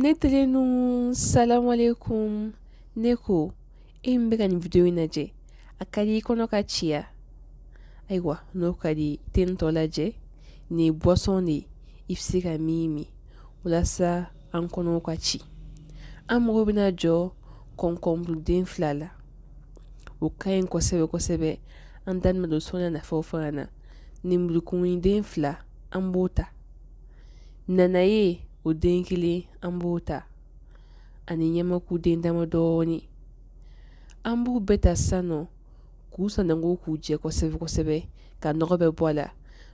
Ne telenu salamu alaykum ne ko e min bɛ ka nin video in lajɛ a ka di i kɔnɔ ka ci wa ayiwa n'o ka di i t'a tɔ lajɛ nin boisson de i bɛ se ka min min walasa an kɔnɔw ka ci an mago bɛna jɔ kɔnkɔnburuden fila la o ka ɲi kosɛbɛ kosɛbɛ an bɛna da don sɔɔni a nafaw fana na ninburukumuden fila an b'o ta nanaye o den kelen an b'o ta ani ɲamakuden dama dɔɔnin an b'u bɛɛ ta sisan nɔ k'u sananko k'u jɛ kosɛbɛ kosɛbɛ ka nɔgɔ bɛɛ bɔ a la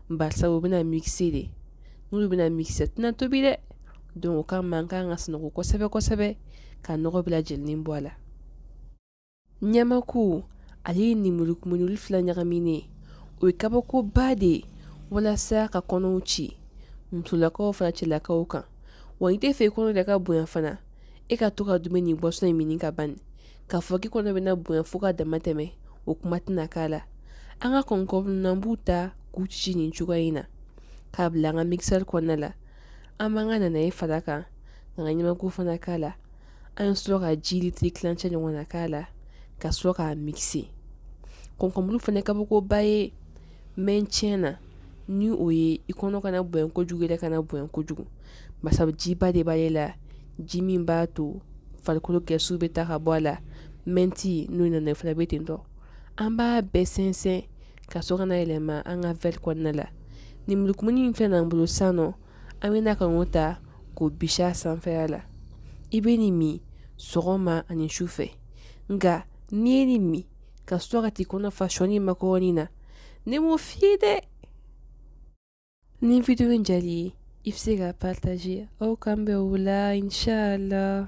barisa u bɛna mixer de ninnu bɛna mixer u tɛna tobi dɛ donc o kama an ka kan k'a sananko kosɛbɛ kosɛbɛ ka nɔgɔ bɛɛ lajɛlen bɔ a la ɲamaku ale ye ninburukumu ninnu fila ɲagaminen o ye kabakoba de ye walasa ka kɔnɔw ci musolakaw fara cɛlakaw kan wa n'i t'a fɛ i kɔnɔ de ka bonya fana e ka to ka dumuni nin boisson in min ka ban k'a fɔ k'i kɔnɔ bɛna bonya fo ka dama tɛmɛ o kuma tɛna k'a la an ka kɔnkɔn an b'u ta k'u cici nin cogoya in na k'a bila an ka mixeur kɔnɔna la an b'an ka nanaye fara a kan k'an ka ɲamaku fana k'a la An bɛ sɔrɔ ka ji litiri tilancɛ ɲɔgɔnna k'a la ka sɔrɔ k'a mixer kɔnkɔnburu fana kabakoba ye mɛ tiɲɛ na ni o ye i kɔnɔ kana bonya kojugu i yɛrɛ kana bonya kojugu barisa jiba de b'ale la ji min b'a to farikolo kɛ su bɛ ta ka bɔ a la maintenant nana fana bɛ ten an b'a bɛɛ sɛnsɛn ka sɔrɔ k'a yɛlɛma an ka verre kɔnɔna la ninburukumuni in filɛ an bolo sisan an bɛ na k'o ta k'o bisi a sanfɛ la i bɛ nin min sɔgɔma ani su fɛ nka n'i ye nin min ka sɔrɔ ka t'i kɔnɔ fa sɔ ni makɔrɔni na ne m'o f'i ye dɛ ni video in diyar'i ye i bɛ se k'a partager aw k'an bɛn wula la